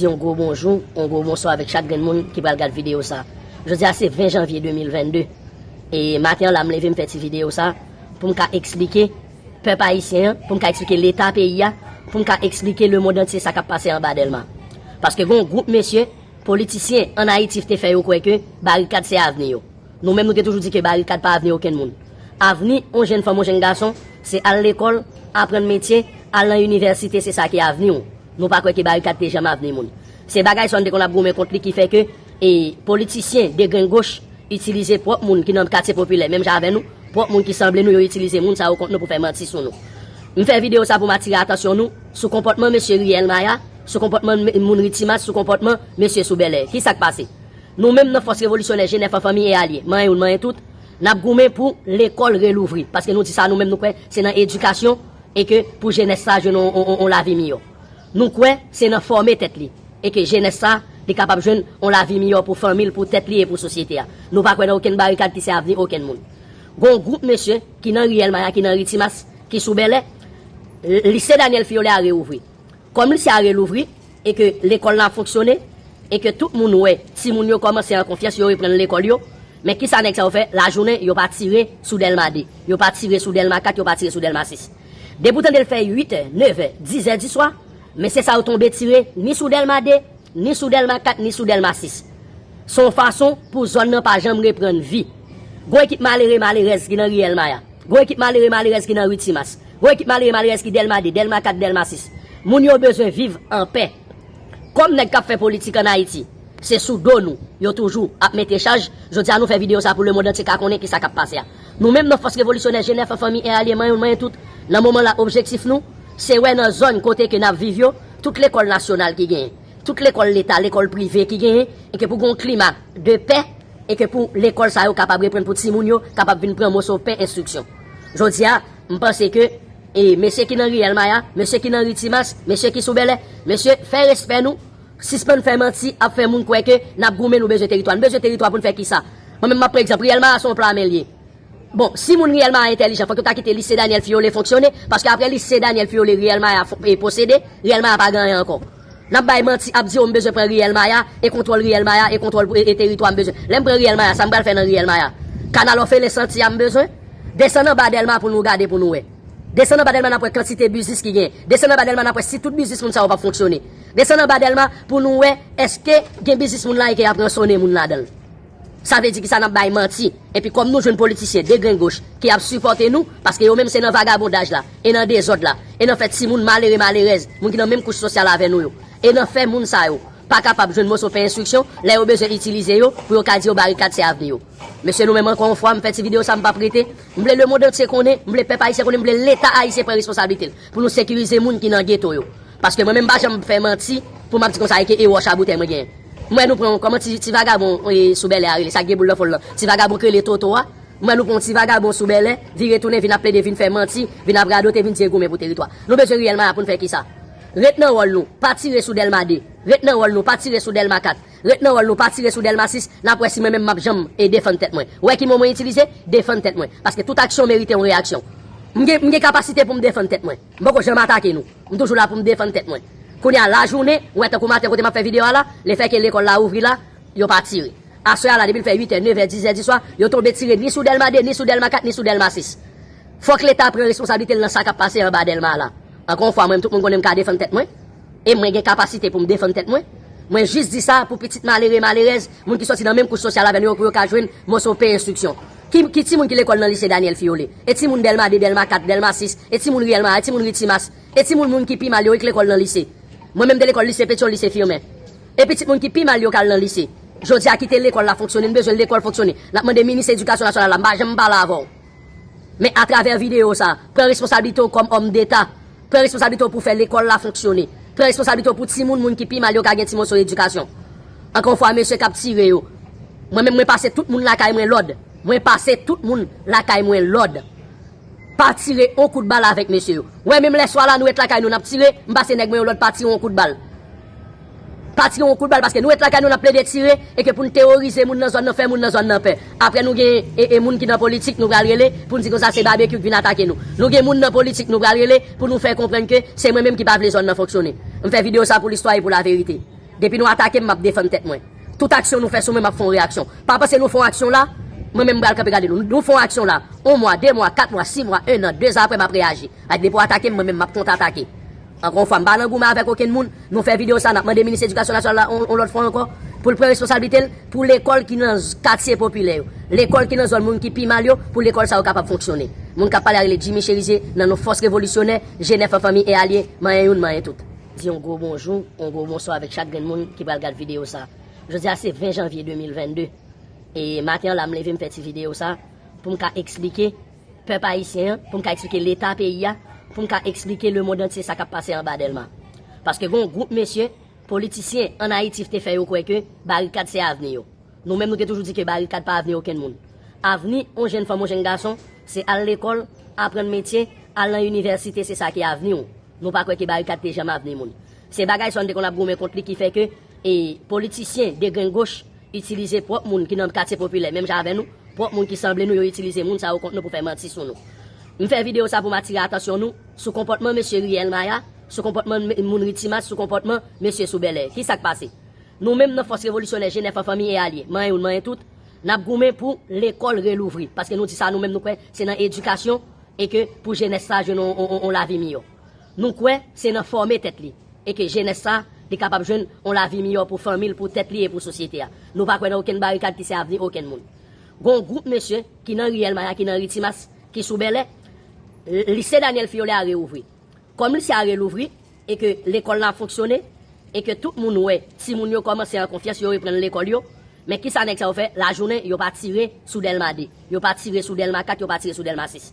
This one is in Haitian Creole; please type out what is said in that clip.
Di yon gwo bonjou, yon gwo bonswa avèk chak grenn moun ki pral gad videyo sa. Jodi a se 20 janvye 2022 e maten an la m leve m fè ti videyo sa pou m ka eksplike pèp ayisyen an, pou m ka eksplike leta peyi a, pou m ka eksplike lemond antye sa k ap pase anba Dèlma. Paske gen yon gwoup mesye, politisyen an Ayiti te fè yo kwè ke barikad se avni yo. Nou menm nou te toujou di ke barikad pa avni okenn moun. Avni yon jenn fanm, yon jenn gason se al lekòl, aprann metye, al nan inivèsite se sa ki avni w. Nou pa kwè ke barikad te janm avni moun. Se bagay sa nou te konn ap goumen kont li ki fè ke politisyen degrengoch itilize pwòp moun ki nan katye popilè menm jan avè nou, pwòp moun ki sanble nou yo itilize moun sa yo kont nou pou fè manti sou nou. M fè videyo sa pou m atire atansyon nou sou konpòtman mesye ri El Maya, sou konpòtman moun ri Timas, sou konpòtman mesye sou Bèlè. Ki sa k pase? Nou menm nan Fòs Revolisyonè Jenèf an Fanmi e Alye, manyen youn manyen tout, n ap goumen pou lekòl relouvri paske nou di sa nou menm nou kwè se nan edikasyon e ke pou jenès sa jwenn yon lavi miyò. Nou kwè se nan fòme tèt li e ke jenès sa li kapab jwenn yon lavi miyò pou fanmi l, pou tèt li e pou sosyete a. Nou pa kwè nan okenn barikad ki se avni okenn moun. Gon yon gwoup mesye ki nan riyèl Maya, ki nan ri Timas, ki sou Bèlè, Lise Daniel Fiolet a reouvri. Kòm lise a relouvri e ke lekòl la ap fonksyone e ke tout moun wè timoun yo kòmanse an konfyans yo reprann lekòl yo, men kisa nèg sa yo fè lajounen yo pa tire sou Dèlma 2, yo pa tire sou Dèlma 4, yo pa tire sou Dèlma 6. Depi w tande l fè 8 è, 9 è, 10 è diswa, mesye sa yo tonbe tire ni sou Dèlma 2, ni sou Dèlma 4, ni sou Dèlma 6. Se yon fason pou zòn nan pa janm reprann vi. Gon ekip malere, malerèz ki nan ri Elmaya. Gon ekip malere, malerèz ki nan ri Timas. Gwo ekip malere malerèz ki Dèlma 2, Dèlma 4, Dèlma 6. Moun yo bezwen viv anpè. Kòm nèg k ap fè politik an Ayiti se sou do nou yo toujou ap mete chaj, jodi a nou fè videyo sa pou lemond antye ka konnen kisa k ap pase a. Nou menm nan Fòs Revolisyonè Jenè Fan Fanmi en Alye Manyen Youn Manyen Tout, nan moman la objektif nou se wè nan zòn kote ke n ap viv yo tout lekòl nasyonal ki genyen, tout lekòl leta, lekòl prive ki genyen e ke pou gen yon klima de pè e ke pou lekòl sa yo kapab reprann pou timoun yo kapab vin pran moso pen enstriksyon. Jodi a. M panse ke mesye ki nan ri El Maya, mesye ki nan ri Timas, mesye ki sou Bèlè, mesye fè respè nou, sispann fè manti ap fè moun kwè ke n ap goumen nou bezwen teritwa. Nou bezwen teritwa pou n fè kisa? Mwen menm m ap pran egzanp, ri El Maya se yon pla men l ye. Bon, si moun ri El Maya entèlijan fòk yo ta kite Lise Daniel Fiyole fonksyone, paske apre Lise Daniel Fiyole ri El Maya posede, ri El Maya pa gen anyen ankò. Nap bay manti ap di yo m bezwen pran riyèl maya e kontwòl riyèl maya e kontwòl pou e teritwa m bezwen lèm pran riyèl maya sa m pral fè nan riyèl maya kanal òfelen santi a m bezwen desann anba dèlma pou nou gade pou nou wè desann anba dèlma nap wè kantite biznis ki genyen desann anba dèlma nap wè si tout biznis moun sa yo pap fonksyone desann anba dèlma pou nou wè èske gen biznis moun la e ke yap ransone moun ladanl. Sa vle di ki sa nap bay manti. Epi kom nou jwenn politisyen degrengoch ki ap sipote nou, paske yo menm se nan vagabondaj la, e nan dezod la, e nan fè timoun malere malerèz, moun ki nan menm kouch sosyal avè nou yo, e nan fè moun sa yo pa kapab jwenn moso pen enstriksyon, lè yo bezwen itilize yo pou yo ka di yo barikad se avni yo. Mesye nou menm anko yon fwa m fè ti video sa m pap rete, m vle lemond antye konnen, m vle pèp ayisyen konnen, m vle leta ayisyen pran responsablite l. Pou nou sekirize moun ki nan geto yo. Paske mwen menm m pa janm fè manti pou map di konsa eke e wòch a boutèy mwen genyen. M wè nou pran yon kòman ti ti vagabon e sou bèlè a rele sa ki gen boul nan fon l lan ti vagabon ki rele Toto a. M wè nou pran yon ti vagabon sou bèlè vire tounen vin ap plede vin fè manti vin ap radote vin di e goumen pou teritwa. Nou bezwen riyèl maya pou n fè kisa? Ret nan wòl nou pa tire sou dèlma 2 ret nan wòl nou pa tire sou dèlma 4. Ret nan wòl nou pa tire sou Delmasis nap wè si mwen menm map janm e defann tèt mwen wè ki mo mwen itilize defann tèt mwen paske tout aksyon merite yon reyaksyon m gen m gen kapasite poum defann tèt mwen m poko janm atake nou m toujou la poum defann tèt mwen kounye a lajounen wè tankou maten kote map fè video a la le fè ke lekòl la ouvri la yo pa tire aswè a la depil fè 8 è 9 è 10 è diswa yo tonbe tire ni sou Dèlma 2 ni sou Dèlma 4 ni sou Dèlma 6 fòk leta pran responsablitel nan sa kap pase anba Dèlma a la ankò yon fwa mwen menm tout moun konnen m ka defann tèt mwen. e mwen gen kapasite pou m defann tèt mwen. Mwen jis di sa pou pitit malere, malerèz, moun ki sòti nan menm kouch sosyal avè nou yo pou yo ka jwenn moso pen enstriksyon. Ki, ki timoun ki lekòl nan lise Daniel Fiyole? E timoun Dèlma 2, Dèlma 4, Dèlma 6? E timoun ri Elma a? E timoun ri Timas? E timoun moun ki pi mal yo wi k lekòl nan lise? Mwen menm m te lekòl lise Petyon, lise Firmen. E pitit moun ki pi mal yo k al nan lise? Jodi a kite lekòl la fonksyone, n bezwen lekòl fonksyone. N ap mande minis edikasyon nasyonal la, m pa janm pale avè w. Men atravè videyo sa, pran responsablite w kòm òmdeta, pran responsablite w pou fè lekòl la fonksyone, pran responsablite w pou timoun moun ki pi mal yo ka gen ti moso edikasyon. Ankò yon fwa mesye k ap tire yo, mwen menm mwen pase tout moun lakay mwen lòd, mwen pase tout moun lakay mwen lòd, pa tire yon kout bal avèk mesye yo. Wè menm lè swa la nou ret lakay nou n ap tire, m pase nèg mwen yo lòd pa tire yon kout bal. Pa tire yon kout bal paske nou ret lakay nou nap plede tire e ke poun teworize moun nan zòn nan fè moun nan zòn nan pè. Aprè nou gen e e moun ki nan politik nou pral rele poun di konsa se Babekyou k vin atake nou. Nou gen moun nan politik nou pral rele pou nou fè konprann ke se mwen menm ki pa vle zòn nan fonksyone. M fè video sa pou listwa e pou laverite. Depi nou atake m map defann tèt mwen. Tout aksyon nou fè sou mwen map fè yon reyaksyon. Pa panse nou fè yon aksyon la mwen menm m pral kanpe gade nou. Nou fè yon aksyon la yon mwa, de mwa, kat mwa, si mwa, ennan, dezan aprè map reyaji. Depi w atake m mwen menm map kont atake. Ankò yon fwa, m pa nan goumen avèk okenn moun, men w fè videyo sa a, n ap mande Minis Edikasyon Nasyonal la yon lòt fwa ankò, pou l pran responsablite l, pou lekòl ki nan katye popilè yo, lekòl ki nan zòn moun ki pi mal yo, pou lekòl sa yo kapab fonksyone. Moun k ap pale a rele Jimmy Cherizier, nan non Fòs Revolisyonè, G9 an Fanmi e Alye, manyen youn manyen tout. Di yon gwo bonjou, yon gwo bonswa avèk chak grenn moun ki pral gad videyo sa a. Jodi a se 20 janvye 2022, e maten an la m leve m fè ti videyo sa a, pou m ka eksplike, pèp ayisyen an, pou m ka eksplike leta peyi a, pou m ka eksplike lemond antye sa k ap pase anba Dèlma. Paske gen yon gwoup mesye, politisyen, ann Ayiti vte fè yo kwè ke barikad se avni yo. Nou menm nou te toujou di ke barikad pa avni okenn moun. Avni yon jenn fanm, yon jenn gason, se al lekòl, aprann metye, al nan inivèsite, se sa ki avni w. Nou pa kwè ke barikad te janm avni moun. Se bagay sa yo n te konn ap goumen kont li ki fè ke E politisyen degrengoch itilize pwòp moun ki nan katye popilè menm jan avè nou, pwòp moun ki sanble nou yo itilize moun sa yo kont nou pou fè manti sou nou. M fè videyo sa pou m atire atansyon nou sou konpòtman mesye Riyèl Maya, sou konpòtman moun ri Timas, sou konpòtman mesye sou Bèlè. Ki sa k pase? Nou menm nan Fòs Revolisyonè Jenè Fan Fanmi e Alye, manyen youn manyen tout, n ap goumen pou lekòl relouvri paske nou di sa nou menm nou kwè se nan edikasyon e ke pou jenès sa jwenn yon lavi miyò. Nou kwè se nan fòme tèt li e ke jenès sa li kapab jwenn on lavi miyò pou fanmi l, pou tèt li e pou sosyete a. Nou pa kwè nan okenn barikad ki se avni okenn moun. Gon on gwoup mesye ki nan riyèl maya, ki nan ri Timas, ki sou Bèlè, lise Daniel Fiolet a reouvri. Kòm lise a relouvri e ke lekòl la ap fonksyone e ke tout moun wè timoun yo kòmanse an konfyans, yo reprann lekòl yo, men kisa nèg sa yo fè lajounen, yo pa tire sou Dèlma 2, yo pa tire sou Dèlma 4, yo pa tire sou Dèlma 6.